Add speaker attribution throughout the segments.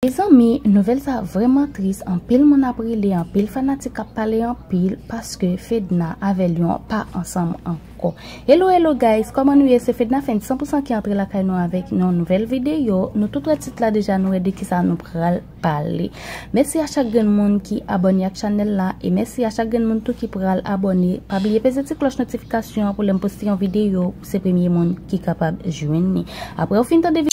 Speaker 1: Mezanmi nouvèl sa vrèman tris anpil moun ap rele anpil fanatik ap pale anpil paske fedna avè lion pa ansanm ankò hello hello guys kòman nou ye se fedna fèn 100 pousan ki antre lakay nou avèk yon nouvèl videyo nou tout wè tit la deja nou wè de kisa nou pral pale mèsi a chak grenn moun ki abòne ak chanèl la e mèsi a chak grenn moun tou ki pral abòne pa bliye peze ti klòch notifikasyon pou lèm poste yon videyo Se premye moun ki kapab jwenn li. Apre ou fin tande.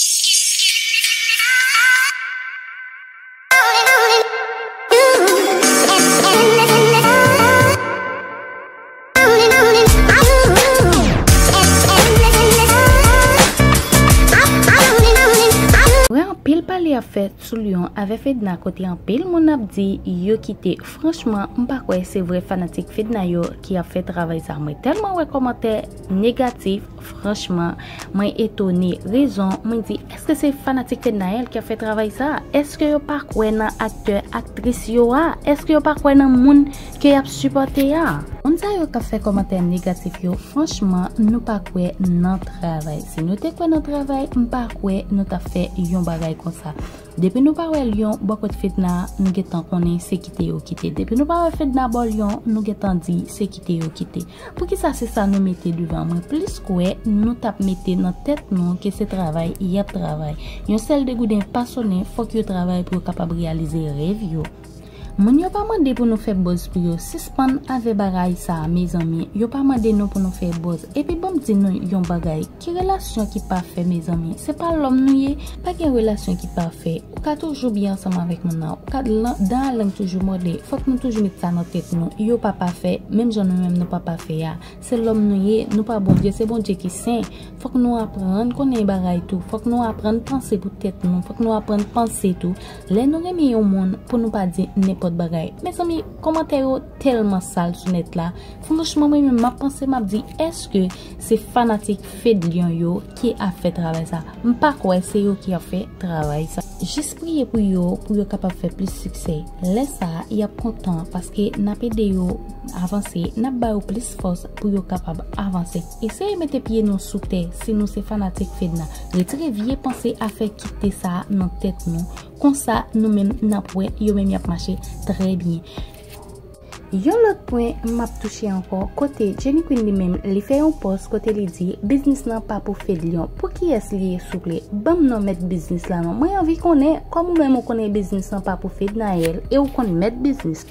Speaker 1: Apre anpil pale ap fèt sou Lion avè Fedna kote anpil moun ap di yo kite franchman m pa kwè se vrè fanatik Fedna yo ki ap fè travay sa mwen tèlman wè kòmantè Négatif franchman mwen etone rezon mwen di eske se fanatik fednaelle ki ap fè travay sa eske yo pa kwè nan aktè aktris yo a eske yo pa kwè nan moun ke yap sipòte a. Moun sa yo kap fè kòmantè negatif yo franchman nou pa kwè nan travay si nou te kwè nan travay m pa kwè nou tap fè yon bagay konsa. Depi nou pa wè lion bò kot fedna nou gentan konnen se kite yo kite depi nou pa wè fedna bò lion nou gentan di se kite yo kite poukisa se sa nou mete devan mwen plis kwè nou tap mete nan tèt nou ke se travay yap travay yon sèl degouden pa sonnen fòk yo travay pou yo kapab reyalize rèv yo. Moun yo pa mande pou nou fè bòz pou yo sispann avè bagay sa mezanmi yo pa mande nou pou nou fè bòz epi banm di nou yon bagay ki relasyon ki pafè mezanmi se pa lòm nou ye pa gen relasyon ki pafè ou ka toujou byen ansanm avèk moun nan ou ka dan a lang toujou mòde fòk nou toujou met sa nan tèt nou yo pa pafè menm jan nou menm nou pa pafè a Se lòm nou ye, nou pa Bondye, se Bondye ki sen. Fòk nou aprann konnen yon bagay tou. Fòk nou aprann panse pou tèt nou. Fòk nou aprann panse tou. Lè nou renmen yon moun, pou nou pa di nenpòt bagay. Mezanmi, kòmantè yo tèlman sal sou nèt la. Franchman mwen menm map panse map di èske se fanatik Fedlion yo Ki ap fè travay sa. M pa kwè se yo ki ap fè travay sa. Jis priye pou yo pou yo kapab fè plis siksè. Lè sa a, y ap kontan paske n ap ede yo avanse, n ap ba yo plis fòs pou yo kapab avanse. Eseye mete pye nou sou tè si nou se fanatik Fedna. Retire vye panse afè kite sa a nan tèt nou. Konsa, nou menm n ap wè yo menm y ap mache trè byen. Yon lòt pwen map touche ankò kote Jenny Queen li menm li fè yon pòs kote li di biznis lan pa pou Fedlion pou kiyès li ye souple banm non mèt biznis la non mwen anvi konnen kòm ou menm ou konnen biznis lan pa pou Fednaelle e ou konn mèt biznis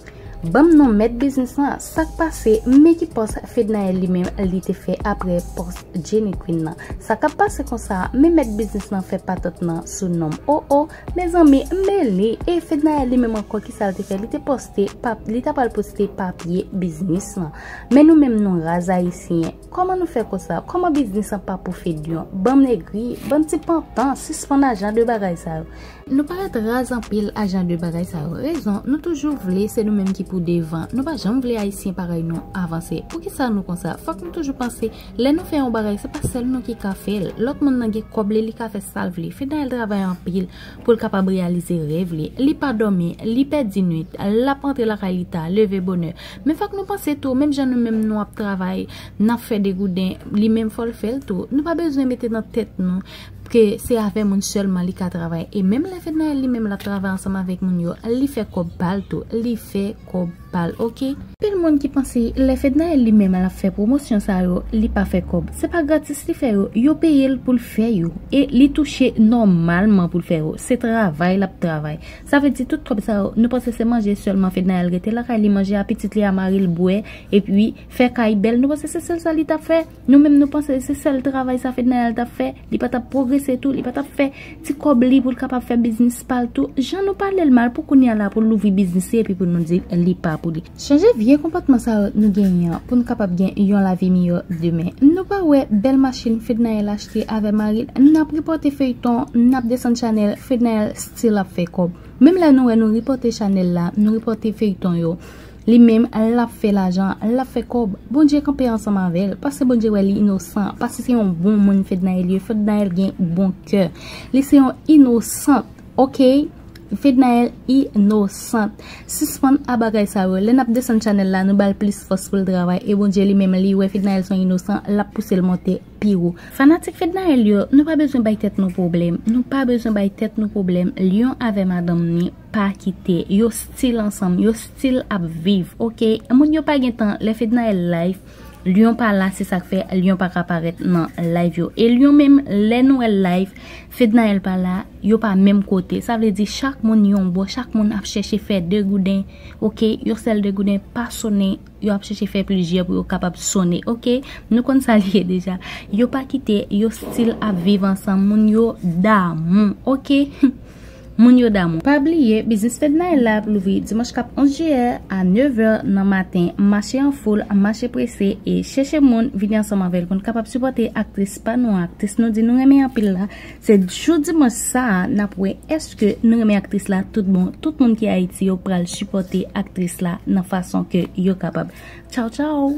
Speaker 1: banm non mèt biznis lan sak pase men ki pòs Fednaelle li menm li te fè aprè pòs Jenny Queen nan sa kap pase konsa men mèt biznis lan fè patant nan sou nom oh oh Mezanmi m mele e Fednaelle li menm ankò kisal te fè li te poste pap li ta pral poste papye biznis lan men nou menm nou raz ayisyen kòman nou fè konsa kòman biznis lan pa pou Fedyon banm egri bann ti pantan sispann a jan de bagay sa yo nou parèt raz anpil a jan de bagay sa yo rezon nou toujou vle se nou menm ki pou devan nou pa janm vle ayisyen parèy nou avanse poukisa nou konsa fòk nou toujou panse Lè nou fè yon bagay se pa sèl nou ki ka fèl, lòt moun nan gen kòb li li ka fè sal vle, Fednaelle travay anpil poul kapab reyalize rèv li, li pa dòmi, li pèdi nwit, lap antre lakay li ta, leve bonè, men fòk nou panse tou menm jan nou menm nou ap travay nap fè degouden li menm fòl fèl tou, nou pa bezwen mete nan tèt nou ke se avè moun sèlman li ka travay e menm lè Fednaelle li menm lap travay ansanm avèk moun yo li fè kòb pal tou, li fè kòb. pal ok. Anpil moun ki panse lè Fednaelle li menm lap fè pwomosyon sa yo li pa fè kòb se pa gratis li fè yo yo peyel poul fè yo e li touche nòmalman poul fè yo se travay lap travay sa vle di tout kòb sa yo nou panse se manje sèlman Fednaelle rete lakay li manje a pitit li a maril bwè epi fè kay bèl nou panse se sèl sa li tap fè. Nou menm nou panse se sèl travay sa Fednanelle tap fè, li pa tap pwogrese tou, li pa tap fè ti kòb li pou l kapab fè biznis pa l tou, jan nou pale l mal pou kounya la pou l louvri biznis li epi pou nou di li pa pou li. Chanje vye konpòtman sa yo nou genyen an pou n kapab gen yon lavi miyò demen. Nou pa wè bèl machin Fednanelle achte avè mari l, nap ripòte feyton, nap desann chanèl, Fednanelle still ap fè kòb. Menm lè nou wè nou ripòte chanèl la, nou ripòte feyton yo, Li menm lap fè lajan lap fè kòb Bondye kanpe ansanm avèl paske Bondye wè li inosan paske se yon bon moun Fednaelle ye Fednaelle gen bon kè li se yon inosant ok Fednaelle inosant sispann a bagay sa yo lè nap desann chanèl la nou bal plis fòs poul travay e Bondye li menm li wè Fednaelle son inosan lap pousel monte pi wo. Fanatik Fednaelle yo nou pa bezwen bay tèt nou pwoblèm nou pa bezwen bay tèt nou pwoblèm Lion avè madanm ni. pa kite yo stil ansanm yo stil ap viv ok moun yo pa gen tan lè fednaelle live lion pa la se sak fè lion pa ka parèt nan live yo e lion menm lè nou wèl live fednaelle pa la yo pa menm kote sa vle di chak moun yon bò chak moun ap chèche fè degouden ok yon sèl degouden pa sonnen Yo ap chèche fè plizyè pou yo kapab sonnen ok. Nou konn sa li ye deja. Yo pa kite, yo stil ap viv ansanm. Moun yo damou ok. Moun yo damou. Pa bliye biznis Fednaelle la ap louvri dimanch kap 11 jiyè a 9 è nan maten. Mache an foul, mache prese e chèche moun vini ansanm avèl pou n kapab sipòte aktris pa nou an, aktris nou di nou renmen anpil la. Se jou dimanch sa a nap wè eske nou renmen aktris la tout bon tout moun ki ayiti yo pral sipòte aktris la nan fason ke yo kapab tchaw tchaw.